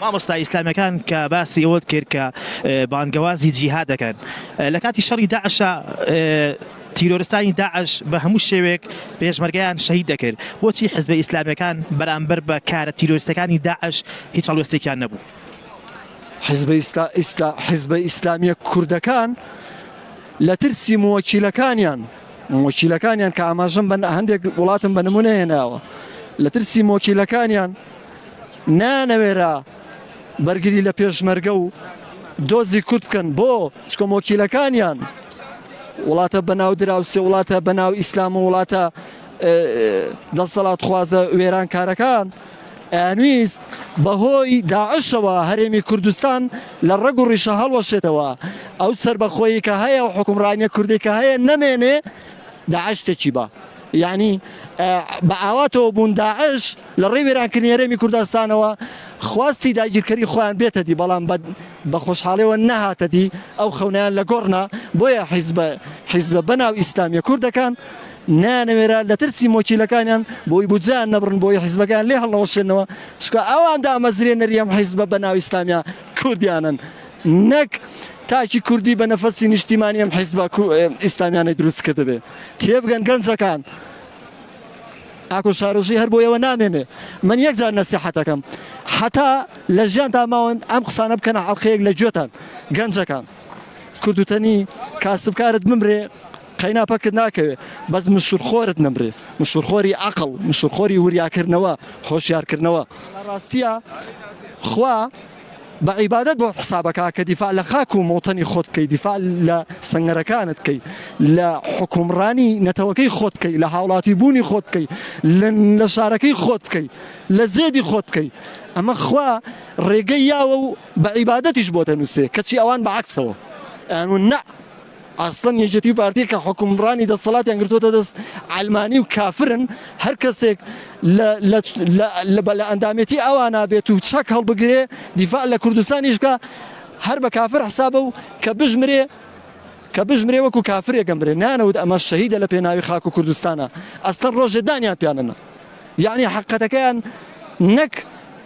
مامۆستا ئیسلامیەکان کە باسی ئەوەت کرد کە بانگەوازی جیهاد دەکەن لە کاتی شەڕی داعشا تیرۆرستانی داعش بە هەموو شێوێک پێشمەرگیان شەهید دەکرد بۆچی حزبە ئیسلامیەکان بەرامبەر بە کارە تیرۆرستەکانی داعش هیچ هەڵوێستێکیان نەبوو. حزبە ئیسلا ئیسلا حزبە ئیسلامیە کوردەکان لە ترسی موەکیلەکانیان موەکیلەکانیان کە ئاماژەم بە هەندێک وڵاتم بە نمونە هێناوە لە ترسی مۆکیلەکانیان نایانەوێرا بەرگری لە پێشمەرگە و دۆزی کورد بکەن بۆ چکە مۆکیلەکانیان وڵاتە بەناو دراوسێ وڵاتە بەناو ئیسلام و وڵاتە دەسەڵات خوازە وێران کارەکان ئەنویست بەهۆی داعشەوە هەرێمی کوردستان لە ڕەگ و ڕیشە هەڵوەشێتەوە ئەو سربەخۆیی کە هەیە و حکومڕانیە کوردی کە هەیە نەمێنێ داعشتێکی بە یعنی بە ئاواتەوە بوون داعش لە ڕێی وێرانکردنی هەرێمی کوردستانەوە خواستی داگیرکەری خۆیان بێتە دی، بەڵام بە بە خۆشحاڵیەوە نەهاتە دی، ئەو خەونەیان لە گۆڕ نا، بۆیە حیزبە حیزبە بە ناو ئیسلامیە کوردەکان نەیانەوێرا لە ترسی مۆکیلەکانیان بۆی بودجەیان نەبڕن بۆی حیزبەکەیان لێ هەڵنەوەشێنەوە، چونکە ئەوان دامەزرێنەری ئەم حیزبە بە ناو ئیسلامیە کوردیانەن نەک تاکی کوردی بە نەفەسی نیشتیمانی ئەم حیزبە کو ئیسلامیانەی دروست کردبێ، تێبگەن گەنجەکان. ئاکۆ شارۆژی هەر بۆیەوە نامێنێ من یەک جار نەسیحەتەکەم حەتا لە ژیانتا ماون ئەم قسانە بکەنە ئەڵقەیەک لە گوێتان گەنجەکان کوردوتەنی کاسبکارت بمرێ قەینا پەکت ناکەوێ بەس مشورخۆرت نەمرێ مشورخۆری ئەقڵ مشورخۆری وریاکردنەوە هۆشیارکردنەوە لە ڕاستیە خوا بە عیبادەت بۆت حسابەکا کە دیفاع لە خاک و مەوتەنی خۆت بکەی دیفاع لە سەنگەرەکانت بکەی لە حوکمڕانی نەتەوەکەی خۆت بکەی لە هاوڵاتی بوونی خۆت بکەی لە لە شارەکەی خۆت بکەی لە زێدی خۆت بکەی ئەمە خوا ڕێگەی یاوە و بە عیبادەتیش بۆ دەنووسێ کەچی ئەوان بە عەکسەوە ئەیان وون نە ئەسڵەن یەکێتی و پارتی کە حوکمڕانی دەسەڵاتیان گرتۆتە دەست عەلمانی و کافرن هەر کەسێک لە لە لە لە بە لە ئەندامێتی ئەوانا بێت و چەک هەڵبگرێ دیفاع لە کوردستانیش بکا هەر بە کافر حسابە و کە بژمرێ کە بژمرێ وەکو کافرێک ئەمرێ نانەوت ئەمە شەهیدە لە پێناوی خاک و کوردستانا ئەسڵەن ڕۆژێ دانیان پیانەنا یەعنی حەقەتەکەیان نەک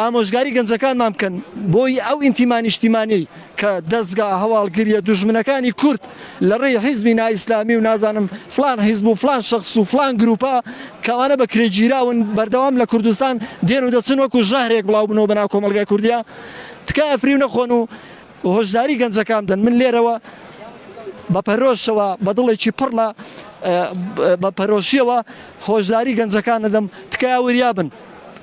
ئامۆژگاری گەنجەکانمان بکەن بۆی ئەو ئینتیما نیشتیمانیەی کە دەزگا هەواڵگریە دوژمنەکانی کورد لە ڕێی حیزبی نائیسلامی و نازانم فڵان حیزب و فڵان شەخس و فڵان گروپە کە ئەوانە بە کرێ گیراون بەردەوام لە کوردستان دێن و دەچن وەکو ژەهرێک بڵاو بنەوە بەناو کۆمەڵگای کوردیا تکایە فریو نەخۆن و هۆشداری گەنجەکان بدەن من لێرەوە بە پەرۆشەوە بە دڵێکی پڕ لە بە پەرۆشیەوە هۆشداری گەنجەکان دەدەم تکایە وریابن